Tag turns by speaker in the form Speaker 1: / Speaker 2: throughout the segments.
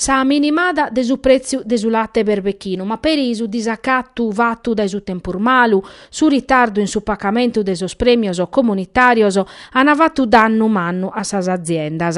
Speaker 1: sa minimada de su prètziu de su late berbechinu, ma peri su disacatu fatu dae su tempus malu, su ritardu in su pacamentu de sos prèmios comunitàrios an fatu dannu mannu a sas aziendas.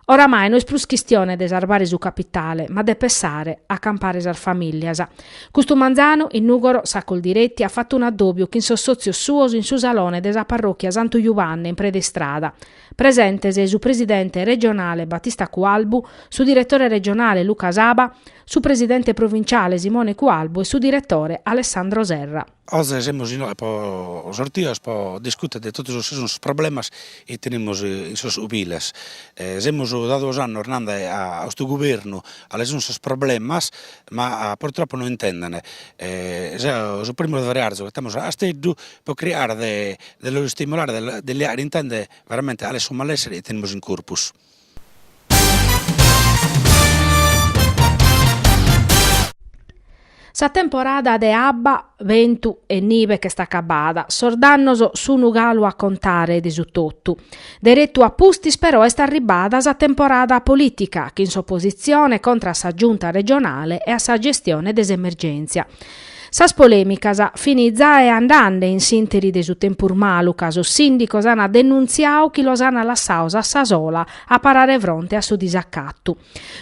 Speaker 1: Oramai no est prus chistione de sarbare su capitale, ma de pessare a campare sas famìllias. Custu manzanu, in Nùgoro, sa Coldiretti at fatu un'addòbiu chin sos sòtzios suos in su salone de sa parròchia Santu Jubanne in Pred'Istrada. Presentes su presidente regionale Battista Cualbu, su direttore regionale Luca Saba, su presidente provinciale Simone Cualbu e su direttore Alessandro Serra. Oze semus inoghe
Speaker 2: po sortios po discuter de totu sos chi sun sos problemas chi tenemus in sos ubiles. Semus da duos annos nande a custu gubernu cale sun sos problemas ma purtroppo no intenden. Su primu de Frearzu, ch'attamus Casteddu pro cricare de de los istimulare de de li faer intende veramente cale est su malessere chi tenemus in
Speaker 1: corpus. Sa temporada de abba, bentu e nive ch'est acabada, sos dannos sun galu a contare de su totu. Deretu a pustis però est arribbada sa temporada politica chin s'opositzione contra a sa Giunta regionale e a sa gestione de s'emergèntzia. Sas polèmicas fin giai andande in s'ìnteri de su tempus malu ca sos sìndicos ant denuntziadu chi los ant lassados a sa sola a parare fronte a su disacatu.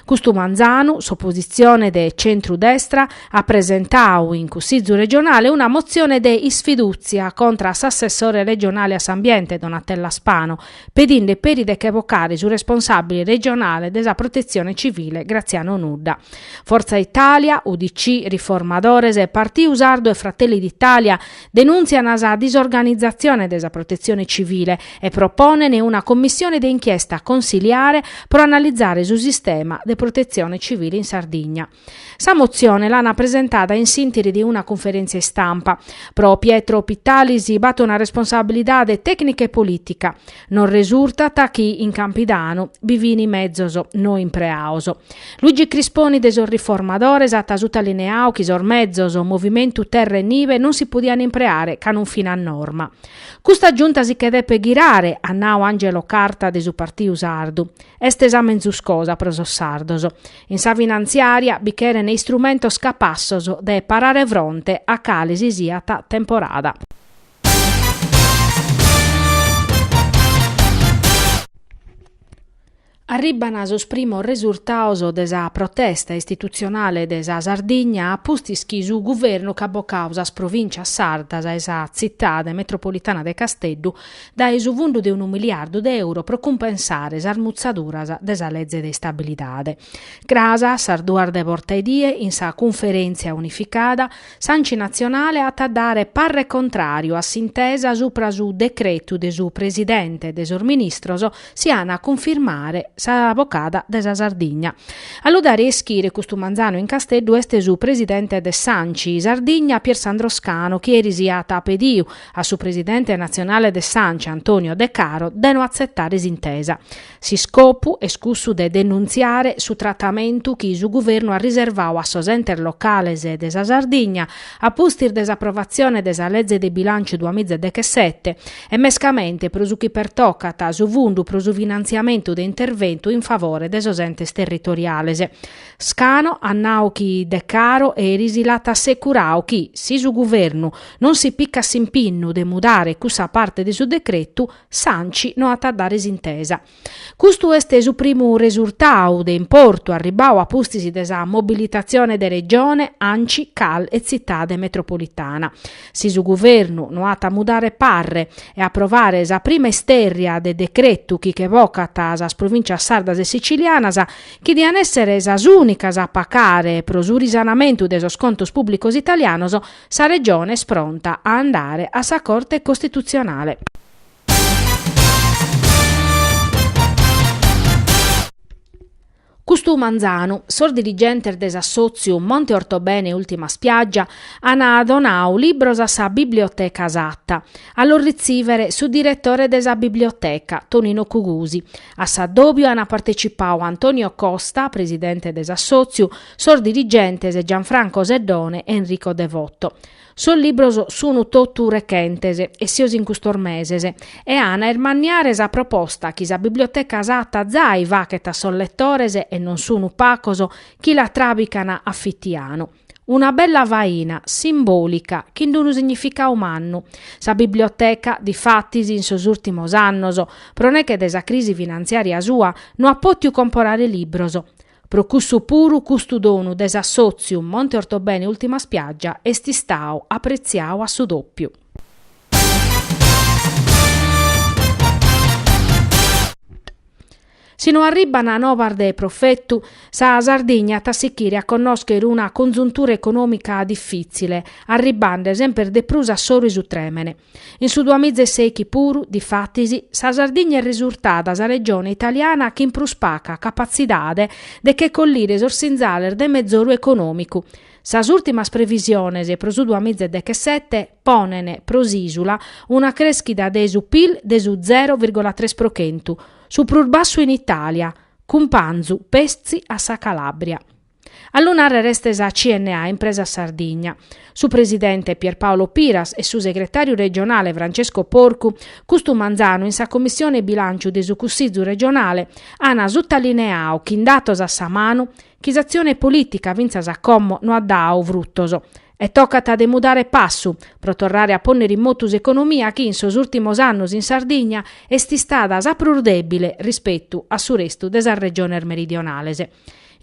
Speaker 1: Custu manzanu, s'opositzione de tzentru-destra at presentadu in Cussìgiu regionale una motzione de isfidùtzia contra a s'assessore regionale a s'ambiente Donatella Spano, pedinde peri de che bocare su responsàbile regionale de sa Protetzione Civile Graziano Nudda. Fortza Italia, UDC, Riformadores, Partidu Sardu e Fratelli d'Italia denùntziant sa disorganizatzione de sa Protetzione Civile e proponent una commissione de inchiesta consiliare pro analizare su sistema de protetzione civile in Sardigna. Sa motzione l'ana presentada in s'ìnteri de una cunferèntzia istampa. Pro Pietro Pittalis b'at una responsabilidade tècnica e polìtica. Nos resurtat chi in Campidanu bi fin mezos no impreados. Luigi Crisponi de sos Riformadores at sutalineadu chi sos mezos Movimentu Terra e Nive non si podian impreare ca non fin a norma. Custa Giunta si che depet ghirare, at nadu Angelo Carta de su Partiu Sardu. Est sa menzus cosa pro sos sardos. In sa finantziària bi cheren istrumentos capassos de parare fronte a cale si siat temporada. Arribban sos primos resurtados de sa protesta istitutzionale de sa Sardigna a pustis chi su guvernu ch'at bocadu sas provìntzias sardas e sa tzitade metropolitana de Casteddu dae su fundu de unu miliardu de euro pro cumpensare sas mutzaduras de sa leze de istabilidade. Cras a sas duas de borta 'e die in sa cunferèntzia unificada, s'Anci Natzionale at a dare parre contràriu a s'intesa supra su decretu de su presidente de sos ministros si an a cunfirmare sa bocada de sa Sardigna. A lu dare a ischire custu manzanu in Casteddu est su presidente de s'Anci Sardigna, Piersandro Scanu, chi eris at pediu a su presidente natzionale de s'Anci Antonio De Caro de no atzetare s'intesa. S'iscopu est cussu de denuntziare su tratamentu chi su guvernu at riservau a sos entes locales de sa Sardigna a pustis de s'aprovatzione de sa leze de bilànciu duamiza e dechesete e mescamente pro su chi pertocat su fundu pro su finantziamentu de interventu in favore de sos entes territoriales. Scanu at nau chi Decaro eris l'at assecurau chi, si su Guvernu non si picat s'impinnu de mudare cussa parte de su decretu, s'ANCI no at a dare s'intesa. Custu est su primu resurtau de importu arribbau a pustis de sa mobilitatzione de Regione, ANCI, Cal e Tzitade metropolitana. Si su Guvernu no at a mudare parre e aprovare sa prima istèrria de decretu chi che bocat sas Provincias sardas e sicilianas, chi dian èssere sas ùnicas a pacare pro su risanamentu de sos contos pùblicos italianos, sa Regione est pronta a andare a sa Corte costitutzionale. Custu manzanu, sos dirigentes de s'assòtziu Monte Ortobene Ultima Spiaggia ant donau libros a sa Biblioteca Satta. A los ritzìvere su diretore de sa biblioteca, Tonino Cugusi. A s'addòbiu ant partecipau Antonio Costa, presidente de s'assòtziu, sos dirigentes Gianfranco Seddone e Enrico Devoto. Sos libros sunt totu rechentes, essios in custos meses, e ant a irmanniare sa proposta chi sa biblioteca Satta zai fachet a sos letores, e non sunt pacos, chi la tràbicant a fitianu. Una bella faina, simbòlica, chin d'unu significau mannu. Sa biblioteca, difatis, in sos ùrtimos annos, pro neche de sa crisi finantziària sua, no at pòtiu comporare libros. Pro cussu puru custu donu de s'assòtziu Monte Ortobene Ultima Spiaggia est istau apretziau a su dòpiu. Si no arribbana nobas de profetu, sa Sardigna at a sichire a connoschere una conzuntura econòmica difìtzile, arribbende semper de prus a s'oru 'e su trèmene. In su duamiza e sèichi puru, difatis, sa Sardigna est resurtada sa regione italiana chin prus paca capatzidade de che collire sos sinzales de mezoru econòmicu. Sas ùrtimas previsiones pro su duamiza e dechesete ponene pro s'ìsula una crèschida de su pil de su zero vìrgola tres pro chentu, Su prus bassu in Itàlia, cumpanzu petzi a sa Calàbria. A lu nàrrere est sa CNA Impresas Sardigna. Su presidente Pierpaolo Piras e su segretàriu regionale Francesco Porcu, custu manzanu in sa Commissione Bilànciu de su Cussizu regionale, ant sutalineau chin datos a sa manu chi s'atzione polìtica fintzas a como no at dau frutos, E tocat de mudare passu, pro torrare a pònnere in motu s'economia chi in sos ùrtimos annos in Sardigna est istada sa prus dèbile rispetu a su restu de sas regiones meridionales.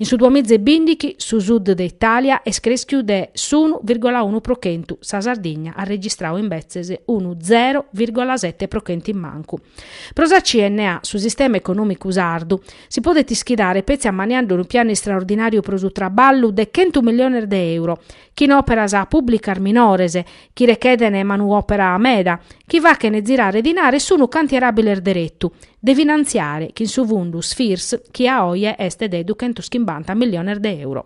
Speaker 1: In su duamiza e bìndichi su sud de Itàlia est crèschiu de s'unu vìrgola unu pro chentu, sa Sardigna at registrau imbetzes unu zero vìrgola sete pro chentu in mancu. Pro sa CNA su sistema econòmicu sardu, Si podet ischidare petzi ammaniande unu pianu istraordinàriu pro su traballu de chentu milliones de euro, chin òperas pùblicas minores, chi rechedene manuòpera meda, chi fachene zirare dinare sunu cantieràbiles deretu, de finantziare chin su fundu Sfirs chi a oje est de duchentus chimbanta milliones de euro.